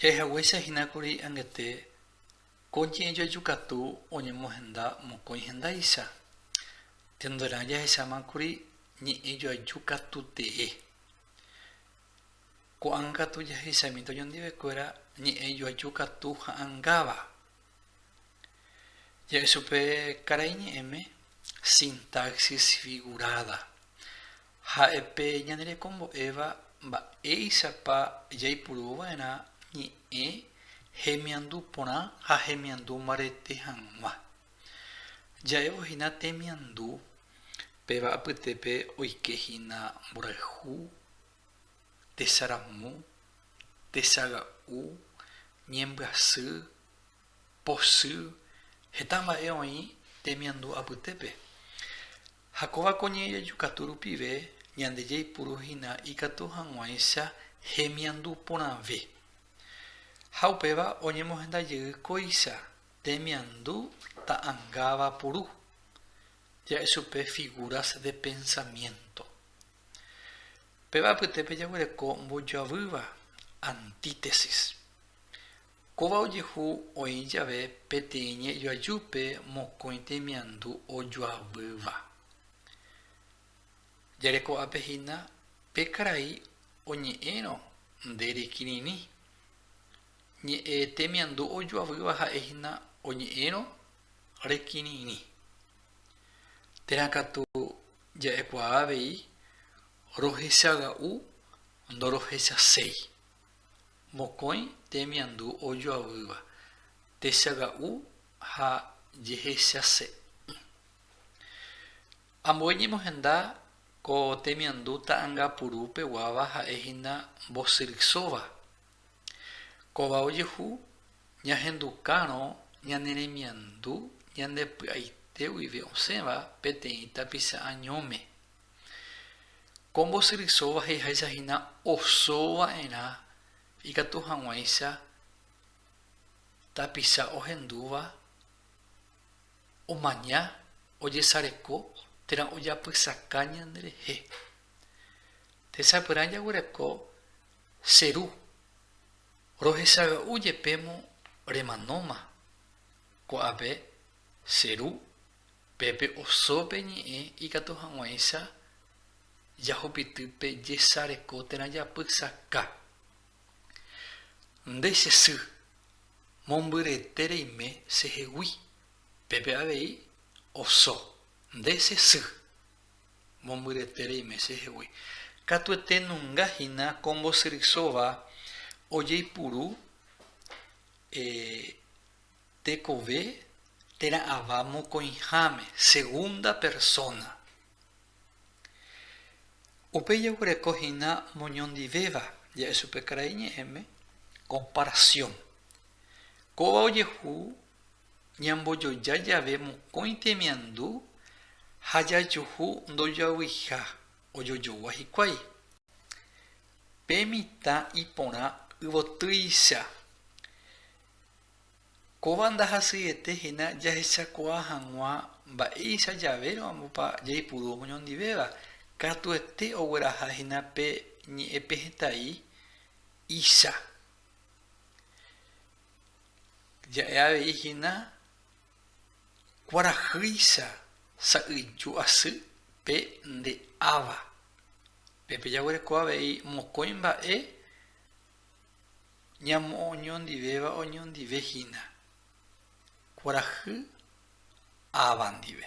Jaheguéicha hína kuri angete ko ñe'ẽjoaju katu oñemohenda mokõi hendáicha. Tenderã jahecháma kuri ñe'ẽjoaju katu tee. Ko'ág̃a katu jaheichami tojondivekuéra ñe'ẽjoaju katu ha'angáva. Ja'e chupe karai ñe'ẽme sintaxis figurada. Ha'e pe ñane rekombo'éva mba'éichapa jaipuru va'erã ñe'ẽ hemiandu porã ha hemiandu mbarete hag̃ua. Ja'évo hína temiandu, péva apytépe oike hína mborayhu, tesaramu, tesaga'u, ñembyasy, posy, heta mba'e oĩ temiandu apytépe. Ha kóva ko ñe'ẽjeju katu rupive ñande jaipuru hína ikatu hag̃uáicha hemiandu porãve. Ha upéva oñemohenda jey kóicha temiandu ta'angáva puru, ja'e chupe figuras de pensamiento. Péva apytépe jaguereko mbojoavýva, antítesis. Kóva ojehu oĩ jave peteĩ ñe'joajúpe mokõi temiandu ojoavýva. Jareko'ápe hína pe karai oñe'ẽrõ nde rekirirĩ. Ñe'e temiandu ojoavýva ha'e hína oñe'ẽrõ rekirirĩ. Térã katu ja'ekuaa avei rohechaga'u ndorohechaséi. mokõi temiandu ojoavýva, techaga'u ha jehechase'ỹ. Ambue ñemohenda ko temiandu ta'angapuru peguáva ha'e hína mbosyrysóva. Kóva ojehu ñahendukárõ ñane remiandu ñande py'aite guive osẽva peteĩ tapicha añóme. Ko mbosyrysóva he'iháicha hína oso va'erã ikatu hag̃uáicha tapicha ohendúva omaña ojesareko térã ojapysaka ñanderehe. Techapyrã jaguereko che ru, rohechaga'u jepémo remanóma ko'ápe che ru Pe pe oso pe ñe'ẽ ikatu hag̃uáicha jahupity pe jesareko térã japysaka. Nde che sy, mombyrete reime che hegui. Pe pe avei oso, nde che sy, mombyrete reime che hegui. Katuete nunga hína ko mbosyrysóva ojeipuru eh, Tekove térã ava mokõiháme, segunda persóna. Upe jaguereko hína moñondivéva ja'e chupe karai ñe'ẽme, komparasión. Kóva ojehu ñambojoja jave mokõi temiandu ha jajuhu ndojoaguiha ojojogua hikuái. Pe mitã iporã yvotýicha Kóva ndahasyiete hína jahechakuaa hag̃ua mba'éicha javérõpa jaipuru omoñondivéva, katuete ogueraha hína pe ñe'ẽ pe hetãi icha. Ja'e avei hína kuarahýicha sa'yju asy pe nde áva. Pépe jaguereko avei mokõi mba'e Ñamo'õñondivéva oñondive hína kuarahy ava ndive.